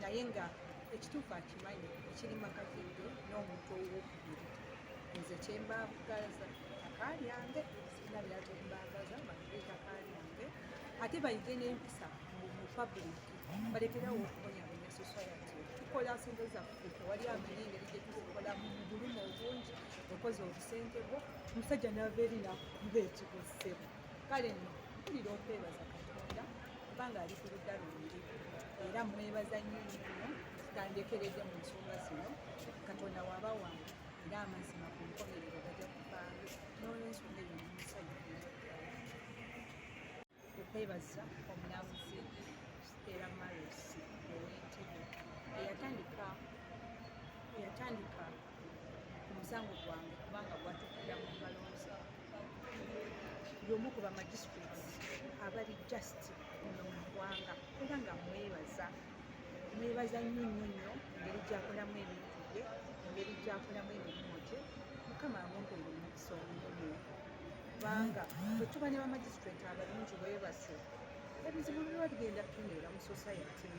naye nga ekituufu akimanyi ekiri makazidde n'omuntu owokubiri nze kyembagaza takalyange sirina byakyembagaza bagire takalyange ate bayige n'empisa mu public balekerawo okubonyabonya society tukola sente zaffe tewali amanyi engeri gyetuzikola mu bulumu obungi okoze obusente bwo omusajja nava eri nakuba ekikussebo kale nno mpulira okwebaza katonda kubanga ali ku ludda lwange era mwebaza nnyo nnyo tutandekeredde mu nsonga zino katonda waba wange era amazima ku nkomerero gaja kuvaayo n'olwensonga eyo nomusajja okwebaza omulamuzi era marosi owentebe eyatandika eyatandika ku musango gwange kubanga gwatukira mu balonzi y'omu ku bamagisituleti abali just muno mu ggwanga era nga mwebaza mwebaza nnyo nnyo nnyo ngeri gyakolamu ebintu bye ngeri gyakolamu emirimu gye mukama amumpulira omukisa omunene kubanga bwe tuba ne bamagisituleti abalungi bwebase ebizibu biba bigenda tuneera mu society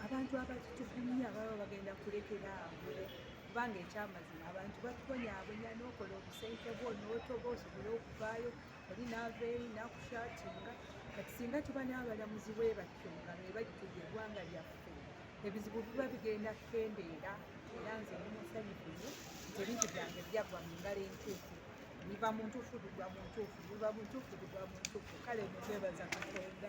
abantu abatutugumya baba bagenda kulekera awo kubanga ekyamazima abantu batubonyabonya nokola obusente bwo notoba osobole okuvaayo oli naava eri nakushatinga kati singa tuba n'abalamuzi bwe batyo nga be bajjudde eggwanga lyaffe ebizibu biba bigenda kukendeera era nze ndi musanyufu nyo nti ebintu byange byagwa mu ngalo entuufu biva mu ntuufu bigwa mu ntuufu biva mu ntuufu bigwa mu ntuufu kale mukwebaza katonda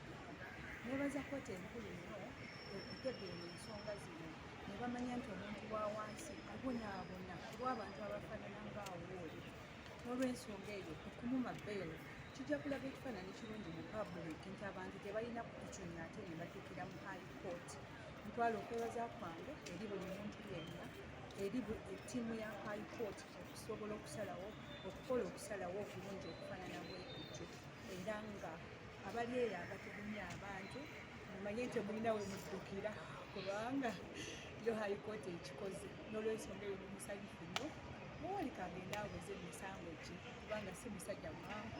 nebaza kkooti enkulu nnyo okutegeera ensonga zino ne bamanya nti omuntu wa wansi abonaabona kuba abantu abafaanana ng'awooli n'olwensonga eyo okumuma beelo kijja kulaga ekifaananyi kirungi mu pabulik nti abantu tebalina kukiconya ate ne batukira mu high court ntwala okwebaza kwange eri buli muntu yenna eri ettiimu ya high court okusobola okusalawo okukola okusalawo okulungi okufaanana bwekutyo era nga abali eyo abatugumya abantu mumanye nti mulina we muddukira kubanga yo hayikooti ekikoze n'olwensonga eyo mumusanyufu nnyo muwolika agenda aweze emisango gye kubanga si musajja mwangu